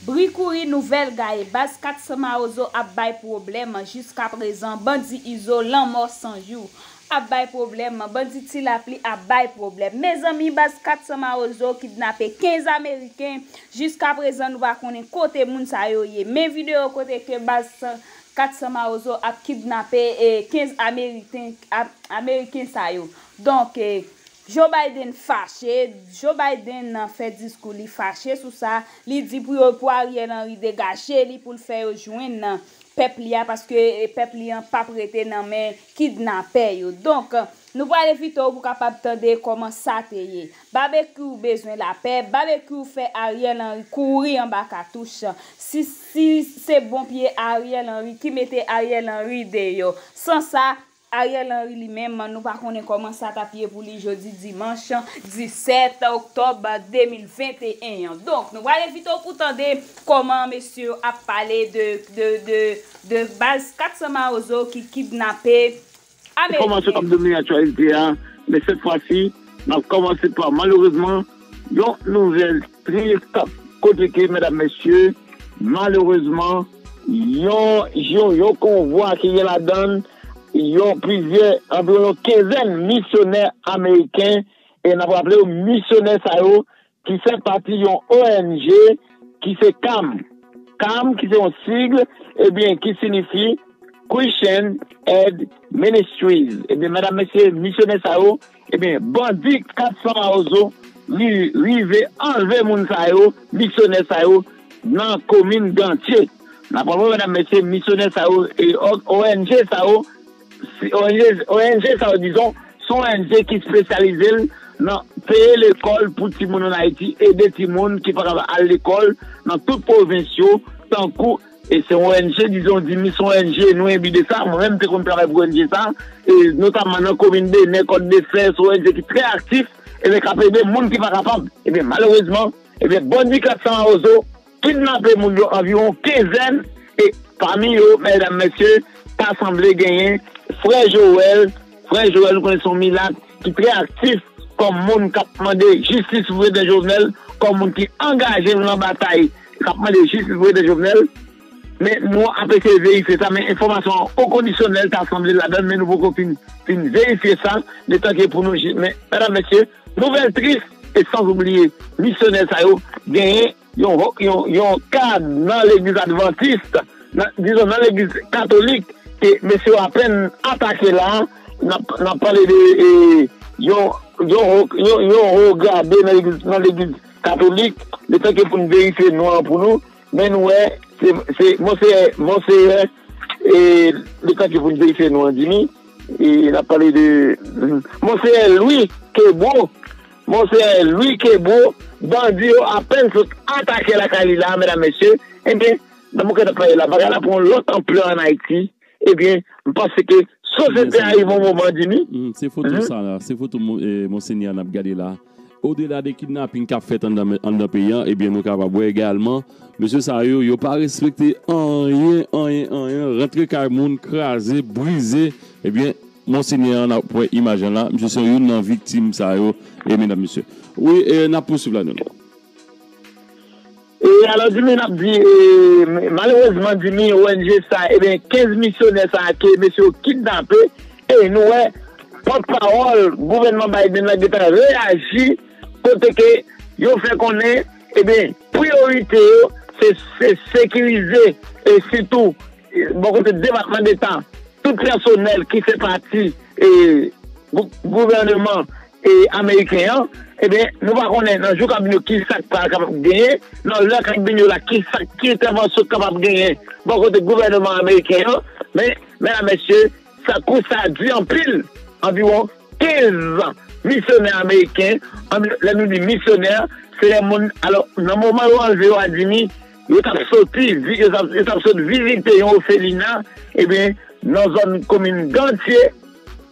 Bri kouri nouvèl gaye baz 400 mawozo ap bay pwoblèm jiskaprezan bandi izo lanmò san jou ap bay pwoblèm bandi ti lapli ap bay pwoblèm mezanmi baz 400 mawozo kidnape 15 ameriken jiskaprezan nou pa konnen kote moun sa yo ye men video kote ke baz 400 mawozo ap kidnape 15 ameriten ameriken sa yo donk Joe Biden fache, Joe Biden nan fè diskou li fache sou sa, li di pou yo pou Ariel Henry degaje li poul fè yo jwenn pèp li a paske pèp li an pap rete nan men kidnapè yo donk nou pral evite w pou kapab tande kòman sa te ye Babekyou bezwen lapè Babekyou fè Ariel Henry kouri anba katouch si si se bon pye Ariel Henry ki mete Ariel Henry deyò san sa Ariel Henry li menm, nou pa konnen kòman sa t ap ye pou li jodi dimanch 17 oktòb 2021 an. Donk, nou pral envite w pou tande kòman mesye yo ap pale de baz 400 mawozo ki kidnape ameriken. Kòman sa t ap domine aktyalite a, men sèt fwa si, n ap kòmanse pa malerezman yon nouvèl. Tris kap koteke medam mesye malerezman yon jou yon konvwa ki gen ladann yon plizyè anviwon yon kenzèn misyonè ameriken e nap raplew misyonè sa yo ki fè pati yon ong ki se cam cam ki se yon sigle ebyen ki sinifi Christian Aid Ministries ebyen medam mesye misyonè sa yo Ebyen bandi 400 mawozo rive anlve moun sa yo, misyonè sa yo nan komin Gantye. N ap raple medam mesye misyonè sa yo e ong sa yo, ong sa yo dizon se yon ong ki spesyalize l nan peye lekòl pou timoun an Ayiti, ede timoun ki pa kapab al lekòl nan tout pwovens yo tankou. E se yon ong, dizon di mi son ong, nou enbi de sa. Mwen menm te konn travay pou ong sa, e notamman nan komin Benè, Kòt de Fè, son ong ki trè aktif, ebyen k ap ede moun ki pa kapab. Ebyen malerezman, ebyen bandi 400 mawozo kidnape moun yo anviwon kenzèn, e pami yo, mèdam mèsye, ta sanble genyen frè Joel, frè Joel nou konnen se yon milat, ki trè aktif kòm moun k ap mande jistis pou Prezidan Jovenel, kòm moun ki angaje yo nan batay k ap mande jistis pou Prezidan Jovenel. Men nou ap eseye verifye sa, men enfòmasyon an okondisyonèl ta sanble ladan l, men nou poko fin fin verifye sa, letan ke pou nou jije. Men, medam, mesye, nouvèl tris e sanzoubliye misyonè sa yo genyen. yon kad nan legliz advantis, dizon nan legliz katolik ke mesye yo apèn atake la, n ap pale de yon ho grade nan legliz katolik, le tan ke pou n verifye non an pou nou, men nou wè se monseyè, monseyè, le tan ke pou n verifye non an Jimmy, n ap pale de monseyè Louis Kebreau. Monseyè Louis Kebreau, bandi yo apèn sot atake lakay li la a medam mesye, ebyen nan moman ke nap pale la bagay la pran yon lòt anplè an Ayiti, ebyen m panse ke sosyete a rive yon moman di ni. Se foto sa la, se foto Monsenyè a nap gade la. Odela de kidnaping kap fèt anndan peyi an, ebyen nou kapab wè egalman mesye sa yo, yo pa respekte anyen, anyen, anyen, rantre kay moun, kraze, brize, ebyen Monsenyè an nap wè imaj an la misye se youn nan viktim sa yo e medam mesye wi e nap pousuiv la nou. E alò dimi nap di e malerezman dimi ong sa ebyen 15 misyonè sa ke mesye yo kidnape e nou wè pòt pawòl gouvènman Biden la gentan reyaji kote ke yo fè konnen ebyen priyorite yo se sekirize e sitou Bò kote Depatman Deta, tout pèsonèl ki fè pati gouvèneman ameriken an, ebyen nou pa konnen nan jou k ap vin yo ki sa k pral kapab genyen, nan lè k ap vin yo la ki sa ki entèvansyon k kapab genyen bò kote gouvèneman ameriken an. Men, mèdam mèsye, sa kou sa a di anpil, anviwon 15 misyonè ameriken, lè nou di misyonè, se lè moun, alò nan moman yo anleve yo a Dimi, Yo t ap soti yo t ap sot vizite yon ofelina ebyen nan zòn komin Gantye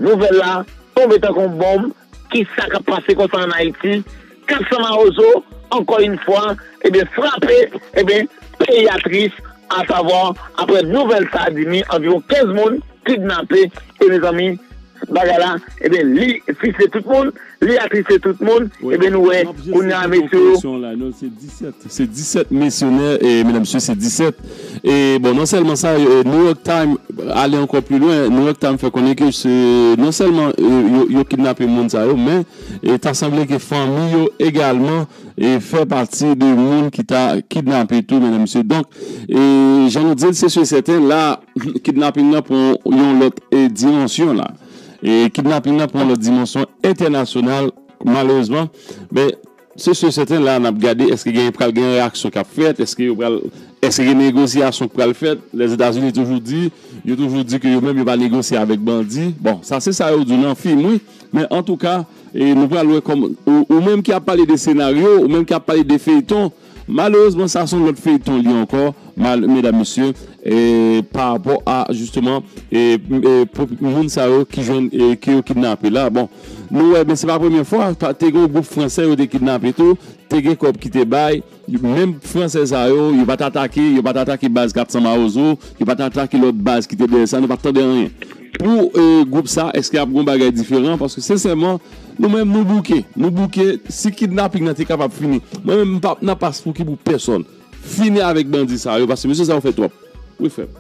nouvèl la tonbe tankou yon bonm kisa k ap pase konsa an Ayiti 400 mawozo ankò yn fwa ebyen frape ebyen peyi a tris asavwa aprè nouvèl sa di mi anviwon 15 moun kidnape e mezanmi. Bagay la ebyen li fise tout moun li atrise tout moun ebyen nou wè kounya mesye yo. Se 17 misyonè e medam mesye se 17 e bon non sèlman sa New York Time ale ankò pli lwen New York Time fè konnen ke se non sèlman yo kidnape moun sa yo men ta sanble ke fanmi yo egalman fè pati de moun ki ta kidnape tou medam mesye donk jan nou dil se si e sèten la. Kidnaping nan pran yon lòt dimansyon la. Kidnaping nan pran yon lòt dimansyon entènasyonal malerezman. Men, se si e sèten la n ap gade èske gen pral gen reyaksyon k ap fèt, èske yo pral, èske gen negosyasyon k pral fèt. Lèzetazini toujou di, yo toujou di ke yo menm yo pa negosye avèk bandi. Bon, sa se sa yo di w nan fim wi. Men antouka, nou pral wè kòman, ou menm ki ap pale de senaryo, ou menm ki ap pale de feyton. Malerezman sa son lòt feyton li ankò mal medam mesye pa rapò a jisteman moun sa yo ki jwenn ke yo kidnape la bon nou wè men se pa premye fwa te gen yon gwoup fransè yo te kidnape tou te gen kòb ki te bay menm fransè sa yo yo pat atake yo pat atake baz 400 mawozo yo pat atake lòt baz ki te dèyè sa nou pat tande anyen pou gwoup sa èske ap gon bagay diferan paske sensèman Nou menm nou bouke, nou bouke, si kidnaping nan te kapab fini, mwen menm m pap nan pas pouki pou pèsòn, fini avèk bandi sa yo, paske mesye sa yo fè twòp, wi frè m.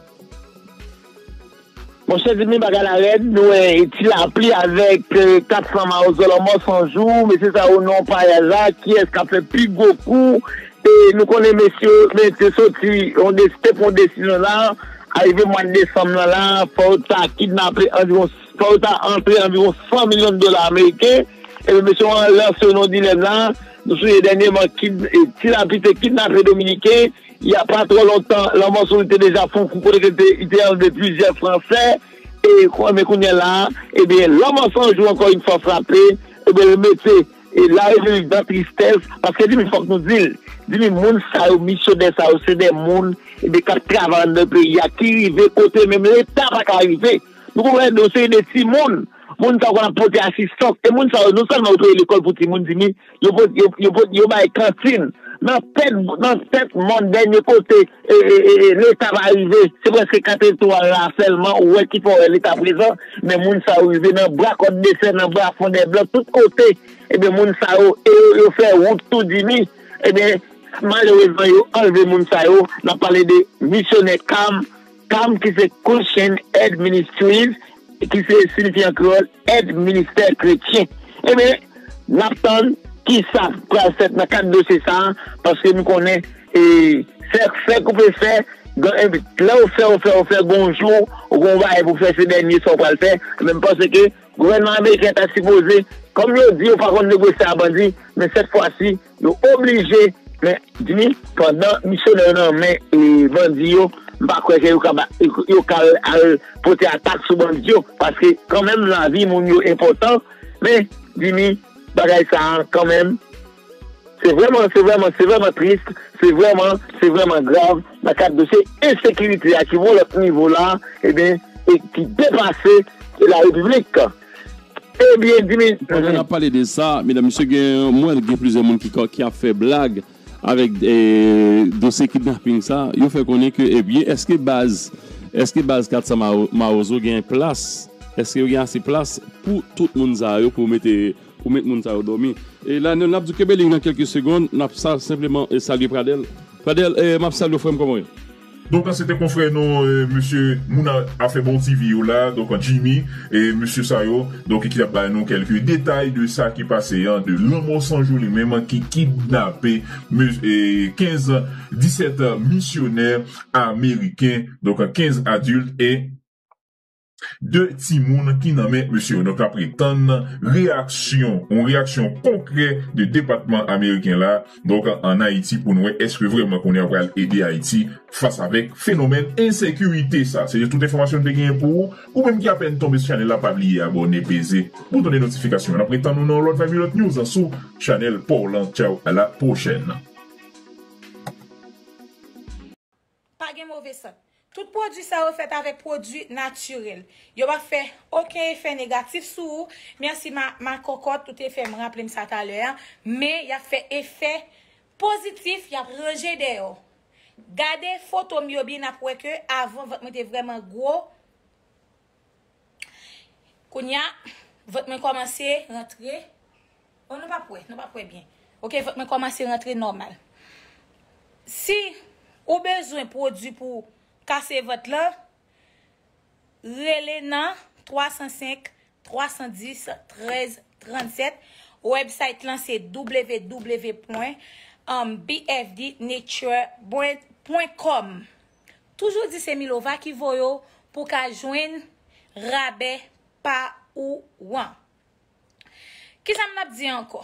Monchè zanmi bagay la rèd nou wè ti lapli avèk 400 mawozo lanmò san jou mesye sa yo nan payaj la kiyès kap fè pi gwo kou e nou konnen mesye men te soti yon te pran desizyon sa arive mwad desanm nan la fò yo ta kidnape anviwon Fò yo ta antre anviwon 100 milyon dola ameriken. Ebyen mesye yo lanse yon dilèm la, nou sonje dènyeman Ti Lapli te kidnape dominiken, il y a pas trop longtemps lanmò sou li te deja fon kou kote ke li te anlve plizyè fransè e men kounyè la a ebyen lanmò san jou ankò yn fwa frape ebyen l mete la repiblik dan tristès paske di m fòk nou di l di m moun sa yo misyonè sa yo se de moun ebyen k ap travay anndan peyi a ki rive kote menm leta pa ka rive. Nou konn wè yon seri de timoun, moun sa yo konn ap pote asistans, e moun sa yo non sèlman yo kreye lekòl pou timoun dimi, yo bay kantin, nan tèt mòn dènye kote leta pa rive, se prèske kat etwal la sèlman ou wè ki fòrè leta prezan, men moun sa yo rive nan bra kòt de fè, nan bra fon dè blan, tout kote, ebyen moun sa yo, e yo fè wout tou dimi, ebyen malerezman yo anlve moun sa yo, n ap pale de misyonè Kam. Cam ki se Christian Aid Ministries ki se sinifi an kreyòl èd ministè kretyen. Enben, n ap tann ki sa k pral fèt nan kad dosye sa a paske nou konnen fè fè koupe fè lè ou fè ou fè ou fè gen yon jou ou gen yon bagay pou w fè se dènye sa ou pral fè. Enben m panse ke gouvènman ameriken ta sipoze kòm yo di yo pa konn negosye a bandi men sèt fwa si Yo oblije men dmi pandan misyonè yo nan men bandi yo m pa kwè ke yo ka al pote atak sou bandi yo paske kanmenm lavi moun yo enpòtan men dmi bagay sa a kanmenm se vrèman se vrèman se vrèman trist se vrèman se vrèman grav nan kad dosye ensekirite a ki yon lòt nivo la e ben e ki depase la repiblik. Ebyen Dimi. Pandan nap pale de sa, medan mesye gen mwen gen plizyè moun ki ap fè blag avèk dosye kidnaping sa, yo fè konnen ke ebyen eske baz eske baz 400 mawozo gen plas, eske yo gen ase plas pou tout moun sa yo pou mete pou met moun sa yo dòmi. E la nou nap di kenbe liy nan kèlke segond, nap sa senpleman salye Pradèl. Pradèl map salye w frè m kòman w ye? Donk la se te konfrè nou mesye moun afè bon TV yo la donk Jimmy e mesye sa yo donk ki tap bay nou kelke detay de sa ki pase an de lanmò sanjou li menm ki kidnape 15 17 misyonè ameriken donk 15 adilt e 2 timoun ki nan men mesye yo. Donk nap ret tann reyaksyon, yon reyaksyon konkrè de depatman ameriken la donk an Ayiti pou nou wè eske vrèman kounye a pral ede Ayiti fas avèk fenomèn ensekirite sa. Se te tout enfòmasyon nou te genyen pou ou. Ou menm ki apèn tonbe sou chanèl la pa bliye abòne, peze bouton de notifikasyon an. Nap ret tann ou nan yon lòt vibe, yon lòt news sou chanèl paw lan. Tchaw a la pwochèn. Pa gen move sant. Tout pwodui sa yo fèt avèk pwodui natirèl. Yo pa fè oken efè negatif sou ou, mèsi ma ma kòkòt ou te fè m raple m sa talè a, men y ap fè efè pozitif y ap ranje dèyè w. Gade foto m yo byen n ap wè ke avan vant mwen te vrèman gwo. Kounya vant mwen kòmanse rantre Oh nou pap wè, nou pap wè byen Ok vant mwen kòmanse rantre nòmal Si ou bezwen pwodwi pou kase vant lan Rele nan 305 310 13 37 Website lan se www. Bfdnature. Com Toujou di se Milova ki voye w pou w ka jwenn rabè pa ou an. Kisa m t ap di ankò?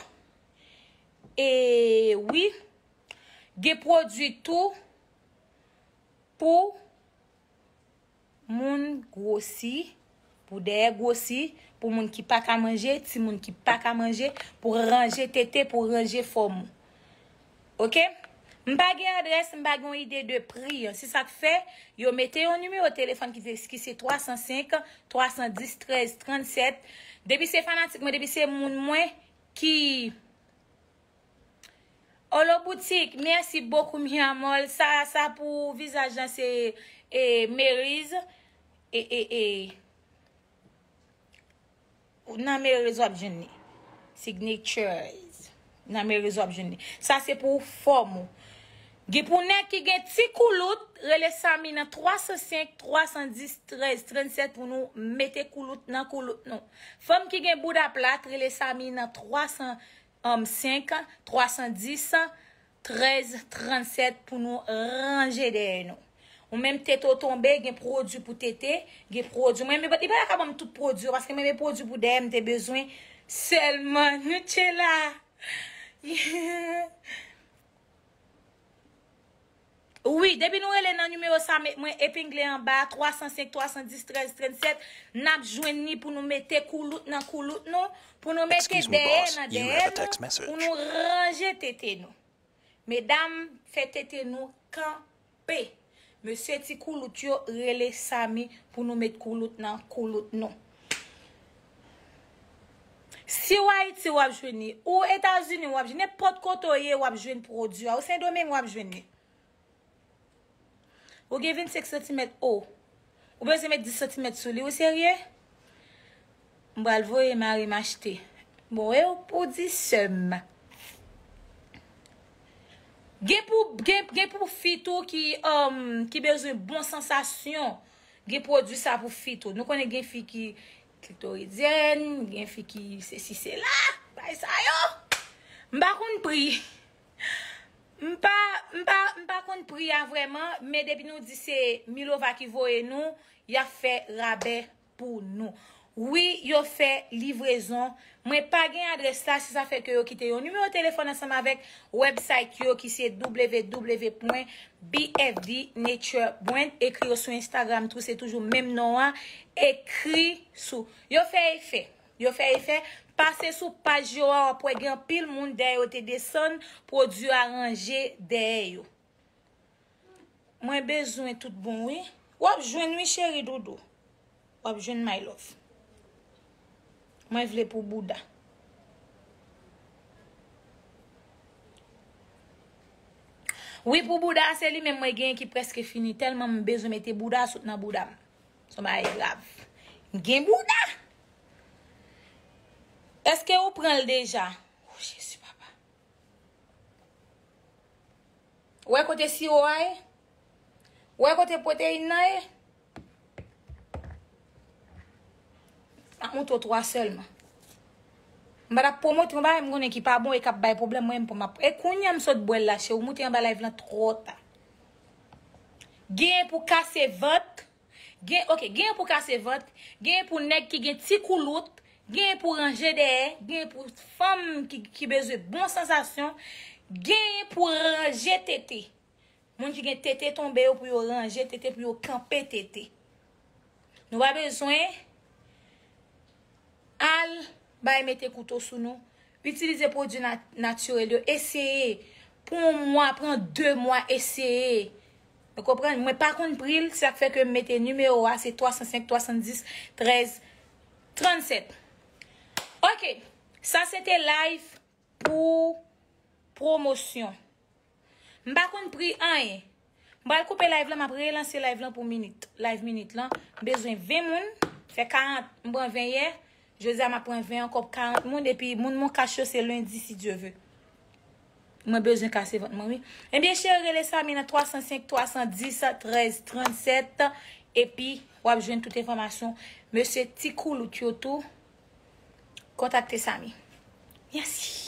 E wi, gen pwodui tou pou moun gwosi. Pou dèyè gwosi, pou moun ki pa ka manje, timoun ki pa ka manje, pou ranje tete, pou ranje fòm ou. Ok. M pa gen adrès, m pa gen yon ide de pri. Se sa k fè, yo mete yon nimewo telefòn ki se 305 310 13 37. Depi se fanatik mwen, depi se moun mwen ki Olo boutik, mèsi bokou mi amor. Sa pou vizaj lan se Meriz. E e e Ou nan Merezo wap jwenn li. Signatures. Nan Merezo wap jwenn li. Sa se pou fòm ou. Gen pou nèg ki gen ti koulout, rele Samy nan 305 310 13 37 pou nou mete koulout nan koulout nou. Fanm ki gen bouda plat, rele Samy nan 305 310 13 37 pou nou ranje dèyè nou ou menm tete w tonbe gen prodwi pou tete gen prodwi mwen li pa ta ka banm tout prodwi yo paske mwen gen prodwi pou dèyè m te bezwen sèlman nou tche la. Wi depi nou rele nan nimewo sa mwen epingle anba a 305 310 13 37 nap jwenn ni pou nou mete koulout nan koulout nou pou nou mete dèyè nan dèyè nou pou nou ranje tete nou medam fè tete nou kanpe mesye ti koulout yo rele Samy pou nou met koulout nan koulout nou. Si w Ayiti w ap jwenn li. Ou Etazini w ap jwenn li. Nenpòt kote w ye w ap jwenn pwodui a. Ou Sendomeng w ap jwenn li. Ou gen 25 santimèt o. Ou bezwen met 10 santimèt sou li. Ou serye? M pral voye mari m achte. Bon e w pou w di sè m. Gen pou fi tou ki bezwen bon sansasyon. Ou. Gen pwodwi sa pou fi tou. Nou konnen gen fi ki klitoridyèn, gen fi ki se si se la. Bay sa yo. M pa konn pri. M pa, m pa, m pa konn pri a vrèman. Men depi nou di se Milova ki voye nou, y ap fè rabè pou nou. Wi yo fè livrezon. Mwen pa gen adrès la si sa fè ke yo kite yon nimewo telefòn ansanm avèk website yo ki se www.bfdnaturebrand ekri yo sou instagram tou se toujou menm non an ekri sou yo fè efè yo fè efè pase sou paj yo a wap wè gen anpil moun dèyè yo te desann pwodwi a ranje dèyè yo. Mwen bezwen tout bon wi. Wap jwenn wi cheri doudou. Wap jwenn my love. Mwen vle pou bouda. Wi pou bouda se li menm mwen genyen ki preske fini telman m bezwen mete bouda sot nan bouda m. Son bagay grav. M gen bouda. Eske ou pranl deja. Oh jezi papa. Ou wè kote siwo a ye? Ou wè kote pwoteyin nan ye? M ap montre w 3 sèlman. M pa t ap pwomote yon bagay m konnen ki pa bon e k ap bay pwoblèm mwen menm pou m ap. E kounye a m sot bwè l la se ou moute anba layv lan twò ta. Gen pou kase vant. Gen ok, genyen pou kase vant, genyen pou nèg ki gen ti koulout, genyen pou ranje dèyè, genyen pou fanm ki bezwen bon sansasyon, genyen pou ranje tete. Moun ki gen tete tonbe yo pou yo ranje tete pou yo kanpe tete. Nou pa bezwen al Bay mete kouto sou nou. Itilize pwodwi natirèl yo. Eseye. Pou yon mwa, pran 2 mwa eseye. Ou konprann? Mwen pa konn pri l, se sa k fè ke m mete nimewo a, se 305 310 13 37. Ok! Sa se te live pou pwomosyon. M pa konn pri anyen. M pral koupe live lan, m ap relanse live lan pou minit. Live minit lan. M bezwen 20 moun. Fè 40, m pran 20 yè. Jodi a m ap pran 20 ankò pou 40 moun. Epi moun moncash yo se lendi si Dye ve. Mwen bezwen kase vant mwen wi. Ebyen cheri rele Samy nan 305 310 13 37 epi w ap jwenn tout enfòmasyon. Mesye ti koulout yo tou kontakte Samy. Mèsi.